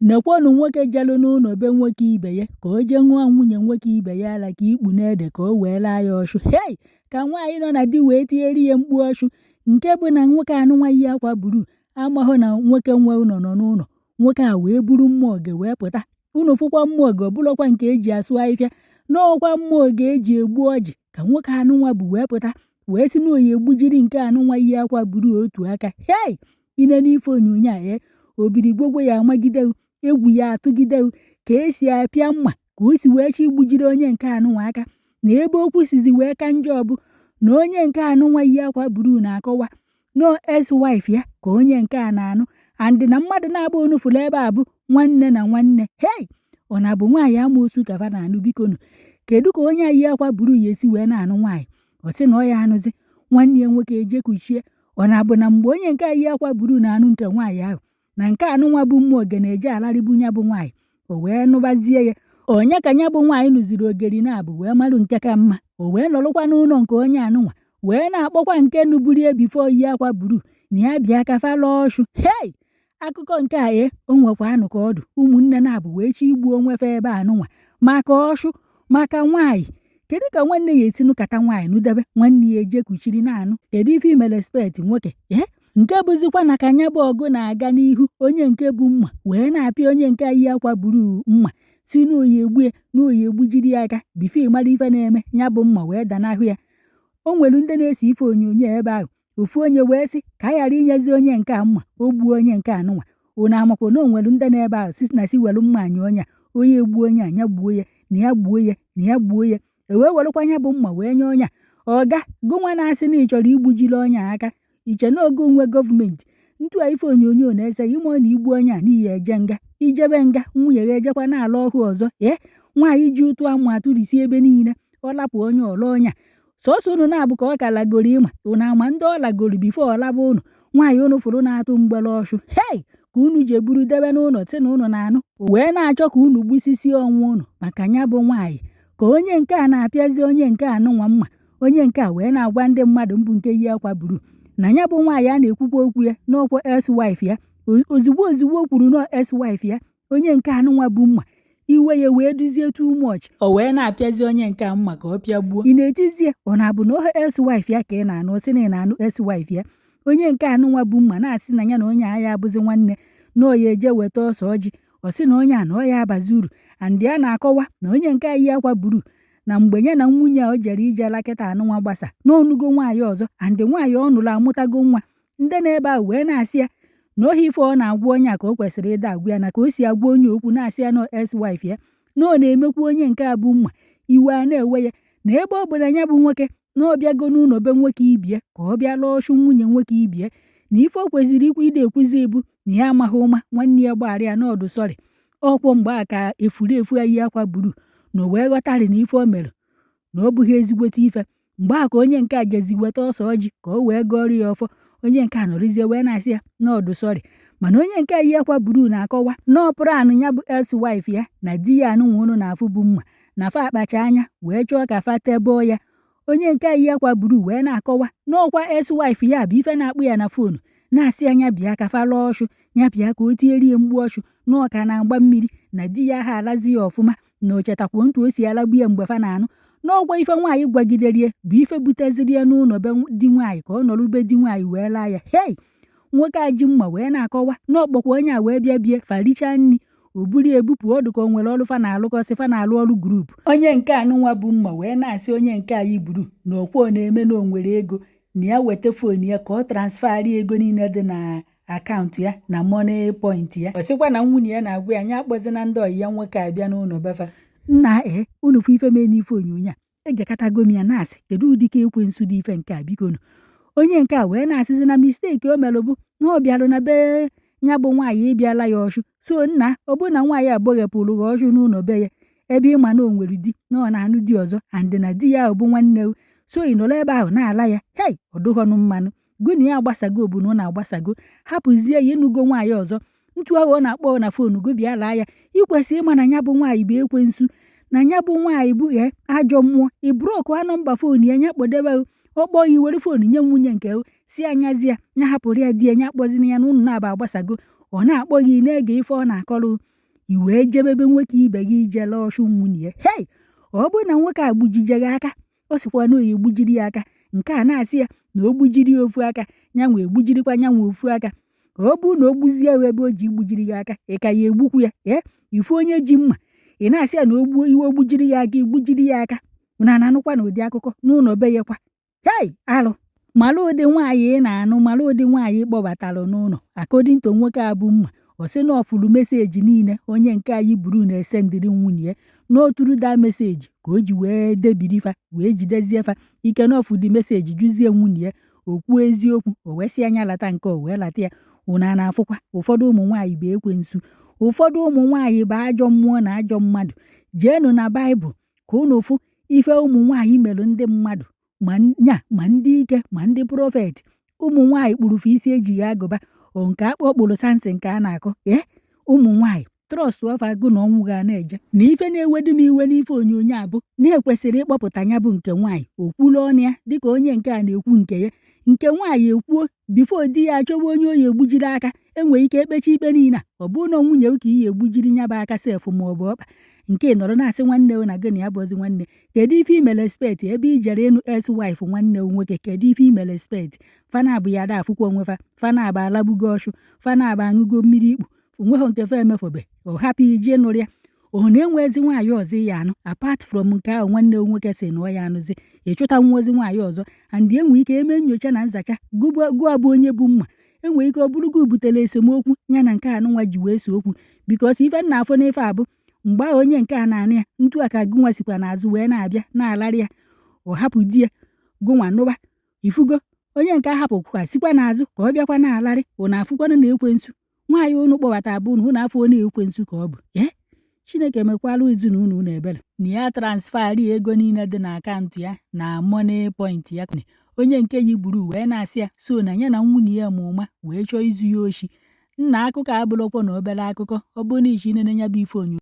Nekwanụ nwoke jere n'ụlọ be nwoke ibe ya ka o jee ṅụọ nwunye nwoke ibe ya ara ka ikpu na-ede ka o wee laa ya ọshụ. Hei! Ka nwaanyị nọ na di wee tiere ya mkpu ọshụ nke bụ na nwoke anụnwa yi akwa blue amahụ na nwoke nwe ụlọ nọ n'ụlọ. Nwoke a wee buru mma oge wee pụta. Unu fụkwa mma oge ọ bụrọkwa nke e ji asụ ahịhịa n'ọkwa mma oge e ji egbu ọjị ka nwoke anụnwa bu wee pụta wee sị na ọ ya-egbujiri nke anụnwa yi akwa blue otu aka. Hei! i nee n'ife onyonyo a ee obiligwogwo ya amagide gị egwu ya atụgide gị ka esi apịa mma ka o si wee chọ igbujiri onye nke anụnwa aka na ebe okwu sizi wee ka njọ bụ na onye nke anụnwa yi akwa blue na-akọwa na ọ ex-wife ya ka onye nke a na-anụ and na mmadụ naabọ unu fụrụ ebe a bụ nwanne na nwanne hei ọ na-abụ nwaanyị ama osu ka fa na-anụ biko nụ kedu ka onye a yi akwa blue ya esi wee na-anụ nwaanyị ọ sị na ọ ya anụzi nwanne ya nwoke eje kuchie ọ na-abụ na mgbe onye nke a yi akwa blue na-anụ nke nwaanyị ahụ na nke anụnwa bu mma oge na-eje alarịbu ya bụ nwaanyị o wee nụbazie ya onye ka ya bụ nwaanyị nụziri ogeri naabọ wee marụ nke ka mma o wee nọrọkwa n'ụlọ nke onye anụnwa wee na-akpọkwa nke nụburu ya before yi akwa blue na ya bịa ka fa laa ọshụ hei akụkọ nke a e o nwekwanụ ka ọ dụ ụmụnne naabọ wee chọ igbu onwe fa ebe anụnwa maka ọshụ maka nwaanyị kedu ka nwanne ya esi nụkata nwaanyị nụdebe nwanne ya eje kuchiri na-anụ kedu ife imere spet nwoke ee nke bụzikwa na ka ya bụ ọgụ na-aga n'ihu onye nke bu mma wee na-apịa onye nke yi akwa blue mma sị na ọ ya-egbu ya na ọ ya-egbujiri ya aka before a mara ife na-eme ya bụ mma wee danahụ ya o nwere ndị na-ese ife onyonyo ebe ahụ ofu onye wee sị ka a ghara inyezi onye nke a mma o gbuo onye nke anụnwa unu amakwa na o nwere ndị nọ ebe ahụ si na si were mma nye onye a onye egbuo onye a ya gbuo ya na ya gbuo ya na ya gbuo ya e wee werekwa ya bụ mma wee nye onye a ọga gịnwa na-asị na ị chọrọ igbujiri onye aka iche na oge onwe gọọmenti ntu a ife onyonyo na-ese ị ma na i gbuo onye a na ị ya-eje nga i jebe nga nwunye ya ejekwa na-ala ọshụ ọzọ ee nwaanyị ji ụtụ amụ atụrisi ebe niile ọ lapụ onye a ọ laa onye a sọsọ unu naabọ ka ọ ka lagoro ị ma unu ama ndị ọ lagoro before ọ laba unu nwaanyị unu fụrụ na-atụ mgbere ọshụ hei ka unu jee buru debe n'ụlọ si na unu na-anụ wee na-achọ ka unu gbusisi onwe unu maka ya bụ nwaanyị ka onye nke a na-apịazi onye nke anụnwa mma onye nke a wee na-agwa ndị mmadụ m bu nke yi akwa blue na ya bụ nwaanyị a na-ekwukwa okwu ya n'ọkwa ex-wife ya ozugbo ozugbo o kwuru na ex-wife ya onye nke anụnwa bu mma iwe ya wee dịzie too much o wee na-apịazi onye nke a mma ka ọ pịagbuo ya na-etizie ọ na-abụ na ọ ex-wife ya ka ị na-anụ ọ sị na ị na-anụ ex-wife ya onye nke anụnwa bu mma na-asị na ya na onye a ya abụzi nwanne na ọ ya eje weta ose ọjị ọ sị na onye a na ọ ya abazi uru and ya na-akọwa na onye nke a yi akwa blue na mgbe ya na nwunye a o jere ije la kịta anụnwa gbasa na ọ nụgo nwaanyị ọzọ and nwaanyị ọ nụrụ amụtago nwa ndị nọ ebe ahụ wee na-asị ya na ohi ife ọ na-agwa onye a ka o kwesịrị ịda agwa ya na ka o si agwa onye okwu na-asị ya na ex-wife ya na ọ na-emekwu onye nke a bu mma iwe a na-ewe ya na ebe ọ bụ na ya bụ nwoke na ọ bịago n'ụlọ be nwoke ibe ya ka ọ bịa laa ọchụ nwunye nwoke ibe ya na ife o kwesịrị ikwu ide ekwuzi bụ na ya amaghị ụma nwanne ya gbaghara ya na ọ dụ sorry ọ kwa mgbe a ka efulefu a yi akwa blue na o wee ghọtarị na ife o mere na ọ bụghị ezigbote ife mgbe ahụ ka onye nke a jezi weta ose ọjị ka o wee gọọrọ ya ọfọ onye nke a nọrịzie wee na-asị ya na ọ dụ sorry mana onye nke a yi akwa blue na-akọwa na ọ plan ya bụ ex-wife ya na di ya a nụnwa ụnụ na-afụ bu mma na fa akpacha anya wee chọọ ka fa teboo ya onye nke a yi akwa blue wee na-akọwa na ọ kwa ex-wife ya bụ ife na-akpọ ya na foonu na-asị ya nya bịa ka fa laa ọchụ ya bịa ka o tierie mgbu ọchụ na ọ ka na-agba mmiri na di ya ha alazi ya ọfụma na o chetakwuo ntu o si alagbu ya mgbe fa na-anụ na ọ kwa ife nwaanyị gwagideri ya bụ ife buteziri ya n'ụlọ be di nwaanyị ka ọ nọrọ be di nwaanyị wee laa ya hei nwoke a ji mma wee na-akọwa na ọ kpọkwa onye a wee bịa be ya fa richaa nri o buru ebupụ ọ dụka o nwere ọrụ fa na-alụkọsị fa na-alụ ọrụ group onye nke a nụnwa bu mma wee na-asị onye nke a yi blue na ọ kwa ọ na-eme na o nwere ego na ya weta fon ya ka ọ transfer ego niile dị na akaụntụ ya na Moniepoint ya ọ sịkwa na nwunye ya na-agwa ya nya akpọzina ndị ọyị ya nwoke abịa n'ụlọ be fa nna ee unu fụ ife mee n'ife onyonyo a egekatago m ya na-asị kedu ụdị ka ekwensu dị ife nke a bikonu onye nke a wee na-asịzi na misteki o mere bụ na ọ bịarụ na be ya bụ nwaanyị ịbịa la ya ọchụ so nna ọ bụrụ na nwaanyị agbaghepụrụ gị ọchụ n'ụlọ be ya ebe ị ma na o nwere di na ọ na-anụ di ọzọ and na di ya ahụ bụ nwanne o so ị nọrọ ebe ahụ na-ala ya hei ọ dụghọnụ mma nụ gụ na ya agbasago bụ na ụnụ agbasago hapụzie ya ị nụgo nwaanyị ọzọ ntu ahụ ọ na-akpọ na fonu gụ bịa laa ya i kwesị ịma na ya bụ nwaanyị bụ ekwensu na ya bụ nwaanyị bụ e ajọ mmụọ ị blọkụọ nọmba fonu ya nya kpọdebe ọ kpọọ ya i were fonu nye nwunye nke sị ya nya zi ya nya hapụrụ ya di ya nya akpọzina ya na ụnụ naabọ agbasago ọ na-akpọ gị na-ege ife ọ na-akọrọ i wee jebe be nwoke ibe gị ije laa ọchụ nwunye ya hei ọ bụrụ na nwoke a gbujie gị aka ọ sịkwa na ọ ya-egbujiri ya aka nke a na-asị ya na o gbujiri ya ofu aka ya nwa egbujirikwa ya nwa ofu aka ọ bụrụ na o gbuzie ya ebe o ji igbujiri ya aka ị ka ya-egbukwu ya ee ị fụ onye ji mma ị na-asị ya na o gbuo iwe o gbujiri ya aka i gbujiri ya aka ụnụ a na-anụkwanụ ụdị akụkọ n'ụnọ be ya kwa hei alụ mara ụdị nwaanyị ị na-anụ mara ụdị nwaanyị ị kpọbatara n'ụnọ according to nwoke a bu mma ọ sị na ọ fụrụ message niile onye nke a yi blue na-esendịrị nwunye ya na ọ through that message ka o ji wee debiri fa wee jidezie fa ike na ọ fụ the message jụzie nwunye ya okwu eziokwu o wee sị ya nya lata nke o wee lata ya ụnụ a na-afụkwa ụfọdụ ụmụ nwaanyị bụ ekwensu ụfọdụ ụmụ nwaanyị bụ ajọ mmụọ na ajọ mmadụ jeenụ na baịbụl ka unu fụ ife ụmụ nwaanyị mere ndị mmadụ ma nya ma ndị ike ma ndị prọfet ụmụ nwaanyị kpụrụ fa isi ejighị agụba o nke akpọ kpụrụ sansi nke a na-akụ ee ụmụ nwaanyị trọstọ fa agụ na ọnwụ ga na-eje na ife na-ewedu m iwe n'ife onyonyo a bụ na e kwesịrị ịkpọpụta nya bụ nke nwaanyị o kwuru ọnụ ya dịka onye nke a na-ekwu nke ya nke nwaanyị ekwuo bifo di ya achọwa onye ọ ya-egbujiri aka e nwee ike e kpechie ikpe niile a ọ bụrụ na nwunye ka i ya-egbujiri nya bụ aka sef ma ọ bụ ọkpa nke ị nọrọ na-asị nwanne na gị na ya bụzi nwanne kedu ife ime respekt ebe i jere ịnụ eks waif nwanne nwoke kedu ife ime respekt fa naabụ ya ada afụkwa onwe fa fa naabụ alagbugo ọchụ fa naabụ aṅụgo mmiri ikpu o nweghị nke fa emefobe ọ hapụ i je nụrụ ya ọ na enwezi nwaanyị ọzọ ị ya-anụ apart from nke ahụ nwanne nwoke sị na ọ ya anụzi ị chọta nwa ozi nwaanyị ọzọ and enwe ike eme nyocha na nzacha gụnwa bụ onye bu mma enwe ike ọ bụrụ gị butere esemokwu ya na nke anụnwa ji wee see okwu bikos ife m na-afụ n'ife a bụ mgbe ahụ onye nke a na-anụ ya ntu a ka gụnwa sikwa n'azụ wee na-abịa na-alarị ya ọ hapụ di ya gụnwa nụba ị fụgo onye nke a hapụkwa sikwa n'azụ ka ọ bịakwa na-alarị unu afụkwana na ekwensu nwaanyị unu kpọbata bụ unu unu afọ na ekwensu ka ọ bụ ee chineke mekwara ezinụlọ unu ebere na ya transferi ego niile dị na akaụntụ ya na moniepoint ya onye nke yi gburu wee na-asị ya so na ya na nwunye ya ma ụma wee chọọ izu ya oshi nna akụkọ abụrọkwanụ obere akụkọ ọ bụrụ na ishi nene ya bụ ife onyonyo